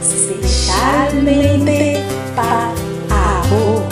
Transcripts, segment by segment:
Spesialmente pa abo.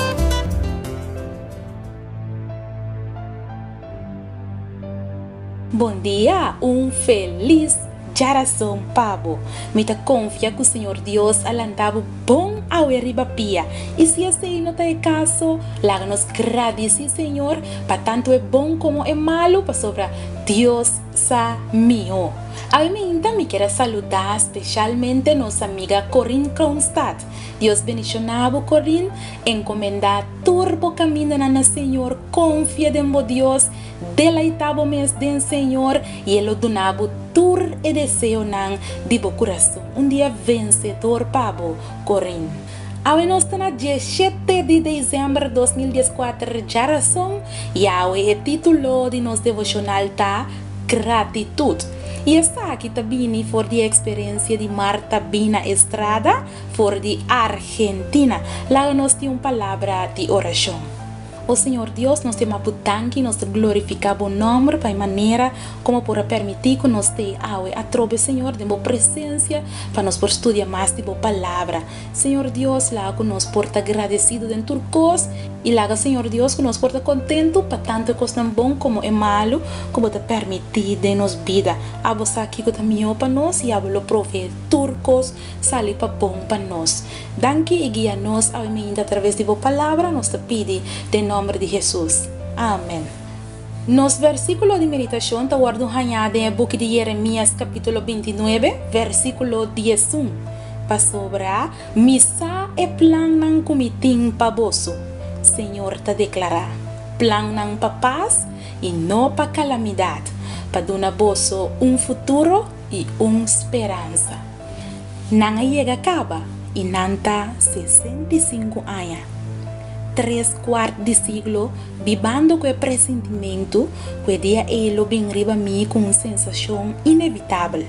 Bondia, un felis djarason pa bo. Mi ta konfia ku Señor Dios a lanta bo bon awe riba pia. I si esei no ta e kaso, laga nos gradisí Señor pa tantu e bon komo e malu, pasobra Dios sa mihó. Al minta mi kier a saludá speshalmente nos amiga Corine Kronstad. Dios bendishoná bo Corine, encomendá tur bo camindonan na Señor, confia den bo Dios, deleitá bo mes den Señor y El lo duna bo tur e deseonan di bo curason. Un dia vencedor pa bo Corine. Awe nos ta na dieshete di dezember dos mil dies kuater dja rason i awe e titulo di nos devoshonal ta Gratitut i esaki ta bini for di e eksperensia di Marta Bina Estrada for di Argentina laga nos tin un palabra di orashon. O Señor Dios, nos ta yama Bo danki i nos ta glorifiká Bo nòmber pa e manera komo por a permití ku nos ta ei awe atrobe, Señor, den Bo presensia pa nos por studia mas di Bo Palabra. Señor Dios, laga ku nos por ta gradesidu den tur kos i laga, Señor Dios, ku nos por ta kontentu pa tantu e kosnan bon komo e malu ku Bo ta permití den nos bida. Abo sa kiko ta mihó pa nos i abo lo proveé tur kos sali pa bon pa nos. Danki i guia nos awe mainta atraves di bo Palabra nos ta pidi den nomber di Hesus. Amen. Nos versiculo di meditacion ta wordo un hañá den e buki di Jeremias capitulo binti nuebe versiculo diesun, Pasobra mi sa e plannan cu mi tin pa boso, Señor ta declara, plannan pa paz i no pa calamidad, pa duna boso un futuro i un speransa. Nan a yega kaba i nan ta sesenta i sinku aña. Tres kuart di siglo bibando ku e presintimentu ku e dia ei lo bin riba mi ku un sensashon inevitabel.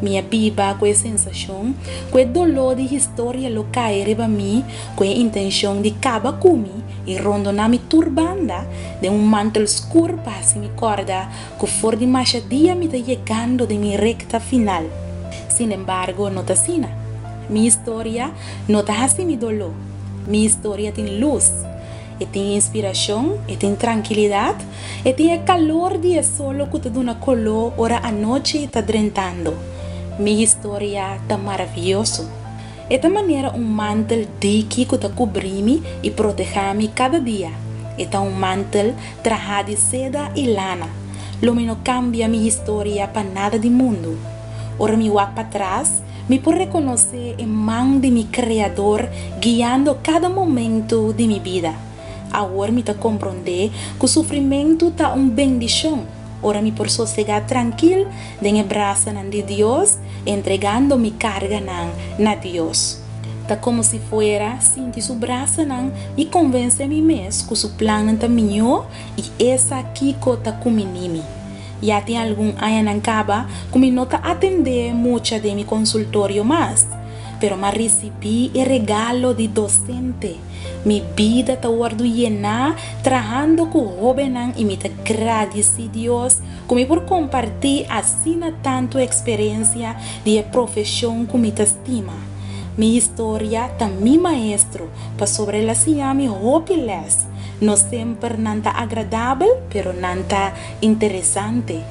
Mi a biba ku e sensashon ku e doló di historia lo kai riba mi ku e intenshon di kaba ku mi i rondoná mi tur banda den un mantel skur pa hasi mi kòrda ku for di masha dia mi ta yegando den mi rekta final. Sin embargo no ta asina. Mi historia no ta hasi mi doló. Mi historia tin lus, e tin inspirashon, e tin trankilidat, e tin e kalor di e solo ku ta duna koló ora anochi ta drentando. Mi historia ta maravioso. E ta manera un mantel diki ku ta kubrí mi i protehá mi kada dia. E ta un mantel trahá di seda i lana. Lo mi no kambia mi historia pa nada di mundu. Ora mi wak patras, mi por rekonosé e man di mi Kreador guiando kada momentu di mi bida. Awor mi ta komprondé ku sufrimentu ta un bendishon. Ora mi por sosegá trankil den e brasanan di Dios, entregando mi karganan na Dios. Ta komo si fuera sinti su brasanan i konvensé mi mes ku su plannan ta mihó i esa kiko ta kuminí mi. Ya tin algun añanan kaba ku mi no ta atendé mucha den mi konsultorio mas, pero m'a risibí e regalo di dosente. Mi bida ta wordu yená trahando ku hóbennan i mi ta gradisí Dios ku mi por kompartí asina tantu eksperensia di e profeshon ku mi ta stima. Mi historia ta mi maestro pasobra el a siña mi hopi lès. No semper nan ta agradabel, pero nan ta interesante.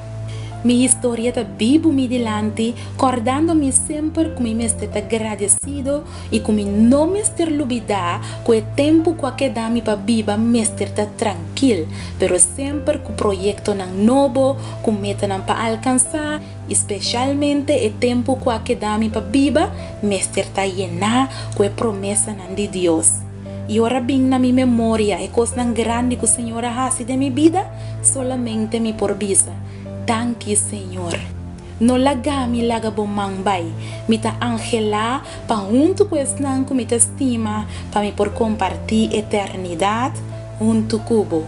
Mi historia ta bibu mi dilanti, kòrdando mi semper ku mi mester ta gradesido I ku mi no mester lubidá ku e tempu ku a keda mi pa biba mester ta trankil, pero semper ku proyektonan nobo, ku metanan pa alkansá, i spesialmente e tempu ku a keda mi pa biba mester ta yená ku e promesanan di Dios. I ora a bin na mi memoria e kosnan grandi ku Señor a hasi den mi bida, solamente mi por bisa, Danki, Señor! No lagami laga bo man bai. Mi ta anhelá pa huntu ku esnan ku mi ta stima pa mi por kompartí eternidat huntu ku bo.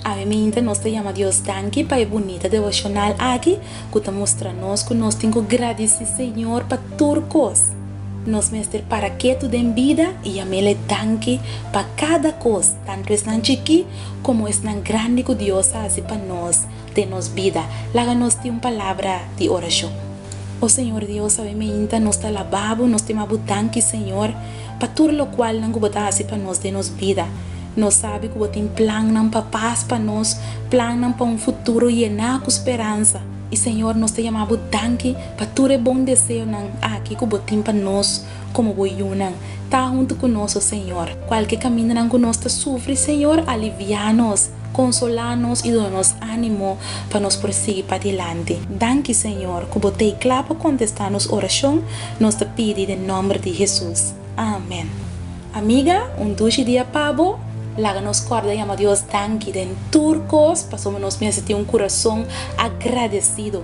Awe minta nos ta yama Dios danki pa e bunita devoshonal aki ku ta mustra nos ku nos tin ku gradisí Señor pa tur kos. Nos mester para ketu den bida i yam'El e danki pa kada kos, tantu esnan chikí komo esnan grandi ku Dios a hasi pa nos. den nos bida. Laga nos tin un palabra di orashon. O Señor Dios, awe meinta nos ta alabá Bo, nos ta ima Bo danki, Señor, pa tur lokualnan ku Bo ta hasi pa nos den nos bida. Nos sabi ku Bo tin plannan pa pas pa nos, plannan pa un futuro yená ku speransa. I Señor, nos ta yama Bo danki pa tur e bon deseonan aki ku Bo tin pa nos. Komo bo yunan, ta huntu ku nos, o Señor. Kualke kamindanan ku nos ta sufri, Señor, aliviá nos, konsolá nos i duna nos ánimo pa nos por sigui padilanti. Danki, Señor, ku bo t'ei kla pa kontestá nos orashon, nos ta pidi den nòmber di Hesus. Amen. Amiga, un dushi dia pa bo! Laga nos kòrda yama Dios danki den tur kos, pasobra nos mester tin un kurason agradesido.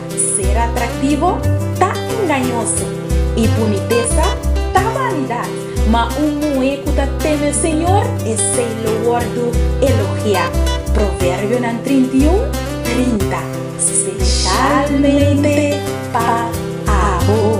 Ser atraktivo ta engañoso, i bunitesa ta vanidat, ma un muhé ku ta teme Señor, esei lo wòrdu elogiá. Proverbionan trinta i un, trinta, spesialmente pa abo.